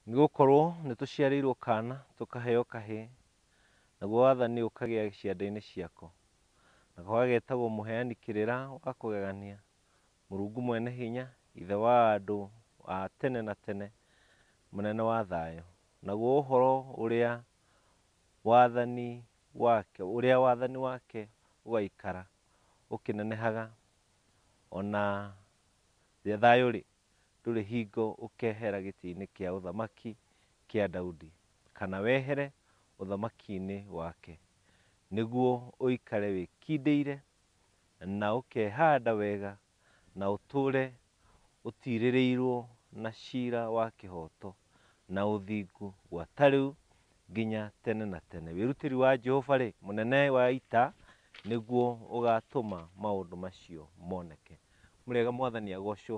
Nĩgũkorwo nĩtũciarĩirwo kaana, tũkaheo kahĩĩ, naguo wathani ũkagĩa ciande-inĩ ciako. Nako gageetagwo Mũheani Kĩrĩra wa Kũgegania, Mũrungu Mwene Hinya, Ithe wa andũ a tene na tene, Mũnene wa Thayũ. Naguo ũhoro ũrĩa wathani wake, ũrĩa wathani wake ũgaikara ũkĩnenehaga o na thayũ rĩ. ndũrĩ hingo ũkeehera gĩtĩ-inĩ kĩa ũthamaki kĩa Daudi, kana wehere ũthamaki-inĩ wake, nĩguo ũikare wĩkindĩire, na ũkeehanda wega, na ũtũũre ũtiirĩrĩirwo na ciira wa kĩhooto na ũthingu gwata rĩu nginya tene na tene. Wĩrutĩri wa Jehova-rĩ, mũnene wa ita, nĩguo ũgaatũma maũndũ macio moneke. Mũrĩega mwathani agocwo.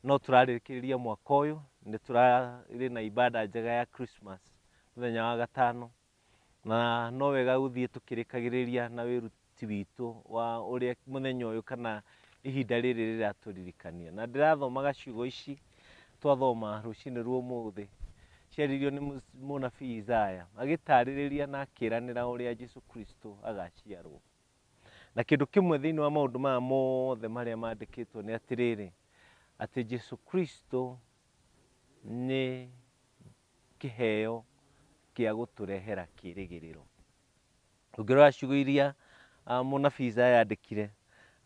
No tũrarĩkĩrĩria mwaka ũyũ, nĩ tũrarĩ na ibada njega ya Christmas mũthenya wa gatano, na no wega gũthiĩ tũkĩrĩkagĩrĩria na wĩruti witũ wa ũrĩa mũthenya ũyũ kana ihinda rĩrĩ rĩratũririkania. Na ndĩrathomaga ciugo ici twathoma rũcinĩ rwa ũmũthĩ, ciaririo nĩ mũnabii Isaya, agĩtarĩrĩria na akĩranĩra ũrĩa Jesu Kristo agaciarwo. Na kĩndũ kĩmwe thĩinĩ wa maũndũ maya mothe marĩa mandĩkĩtwo nĩ atĩrĩrĩ, atĩ Jesu Kristo nĩ kĩheo kĩa gũtũrehera kĩĩrĩgĩrĩro. Ũngĩrora ciugo iria ah, mũnabii Isaya andĩkire,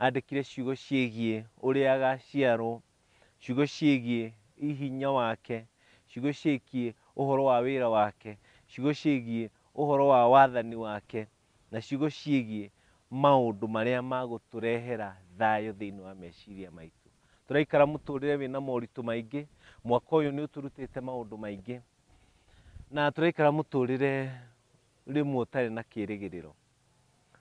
andĩkire ciugo ciĩgiĩ ũrĩa agaciarwo, ciugo ciĩgiĩ hinya wake, ciugo ciĩgiĩ ũhoro wa wĩra wake, ciugo ciĩgiĩ ũhoro wa wathani wake, na ciugo ciĩgiĩ maũndũ marĩa magũtũrehera thayũ thĩinĩ wa meciria maitũ. Tũraikara mũtũrĩre wĩna moritũ maingĩ, mwaka ũyũ nĩ ũtũrutĩte maũndũ maingĩ, na tũraikara mũtũrĩre rĩmwe ũtarĩ na kĩrĩgĩrĩro.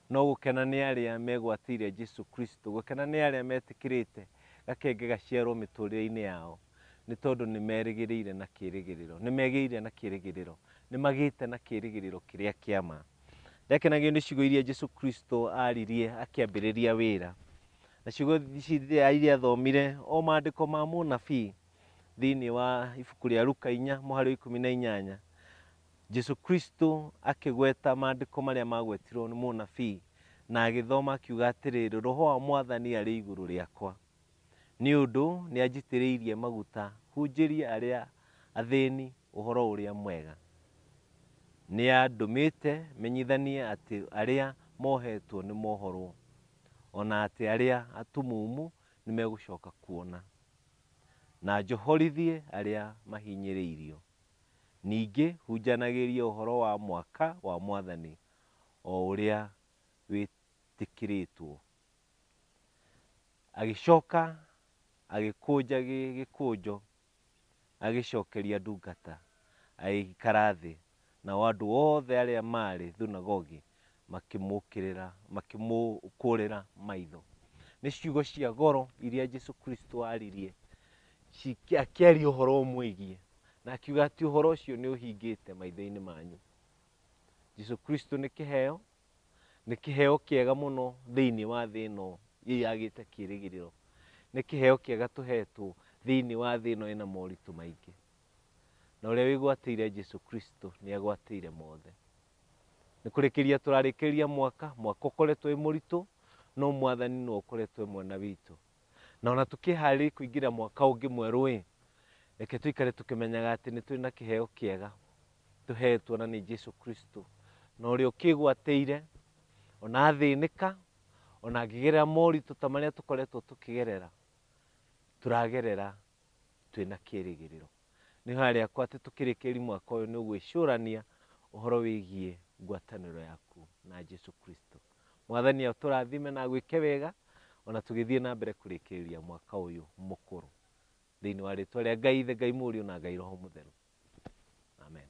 No gũkena nĩ arĩa megwatĩire Jesu Kristo, gũkena nĩ arĩa metĩkĩrĩte gakenge gaciarwo mĩtũrĩre-inĩ yao. nĩ tondũ nĩ merĩgĩrĩire na kĩĩrĩgĩrĩro, nĩ megĩire na kĩĩrĩgĩrĩro, nĩ magĩte na kĩĩrĩgĩrĩro kĩrĩa kĩa ma. Ndakenagio nĩ ciugo iria Jesu Kristo aaririe akĩambĩrĩria wĩra, na ciugo ici rĩrĩa iria athomire o maandĩko ma mũnabii thĩinĩ wa ibuku rĩa Luka inya mũhari wa ikũmi na inyanya, Jesu Kristo akĩgweta maandĩko marĩa magwetirwo nĩ mũnabii na agĩthoma akiuga atĩrĩrĩ, roho wa mwathani arĩ igũrũ rĩakwa. Nĩ ũndũ nĩanjitĩrĩirie maguta hunjĩrie arĩa athĩĩni ũhoro ũrĩa mwega. Nĩandũmĩĩte menyithanie atĩ arĩa mooheetwo nĩmoohorwo, o na atĩ arĩa atumumu nĩmegũcooka kuona, na njohorithie arĩa mahinyĩrĩirio. Ningĩ hunjanagĩrie ũhoro wa mwaka wa Mwathani o ũrĩa wĩtĩkĩrĩĩtwo. Agĩcoka agĩkũnja gĩkũnjo agĩcokeria ndungata, agĩikara thĩ, nao andũ othe arĩa maarĩ thunagogi makĩmũkĩrĩra, makĩmũkũrĩra maitho. Nĩ ciugo cia goro iria Jesu Kristo aaririe akĩaria ũhoro ũmwĩgiĩ na akiuga atĩ ũhoro ũcio nĩ ũhingĩte maitho-inĩ manyu. Jesu Kristo nĩ kĩheo, nĩ kĩheo kĩega mũno thĩinĩ wa thĩ ĩno yagĩte kĩĩrĩgĩrĩro. Nĩ kĩheo kĩega tũhetwo thĩinĩ wa thĩ ĩno ĩna moritũ maingĩ. Na ũrĩa wĩgwatĩire Jesu Kristo nĩ agwatĩire mothe. Nĩ kũrĩkĩria tũrarĩkĩria mwaka, mwaka ũkoretwo wĩ mũritũ, no mwathani nĩ ũkoretwo mwena witũ. Na ona tũkĩharĩria kũingĩra mwaka ũngĩ mwerũ-ĩ, reke tũikare tũkĩmenyaga atĩ nĩ tũrĩ na kĩheo kĩega tũhetwo na nĩ Jesu Kristo. Na ũrĩa ũkĩgwatĩire, ona athĩnĩka, ona angĩgerera moritũ ta marĩa tũkoretwo tũkĩgerera, tũragerera twĩ na kĩrĩgĩrĩro. Nĩ hoya rĩakwa atĩ tũkĩrĩkĩrĩria mwaka ũyũ nĩ ũgwĩcũrania ũhoro wĩgiĩ ngwatanĩro yaku na Jesu Kristo. Mwathani atũrathime na agwĩke wega ona tũgĩthiĩ na mbere kũrĩkĩrĩria mwaka ũyũ mũkũrũ thĩinĩ wa rĩtwa rĩa Ngai Ithe, Ngai Mũriũ na Ngai Roho Mũtheru. Amen.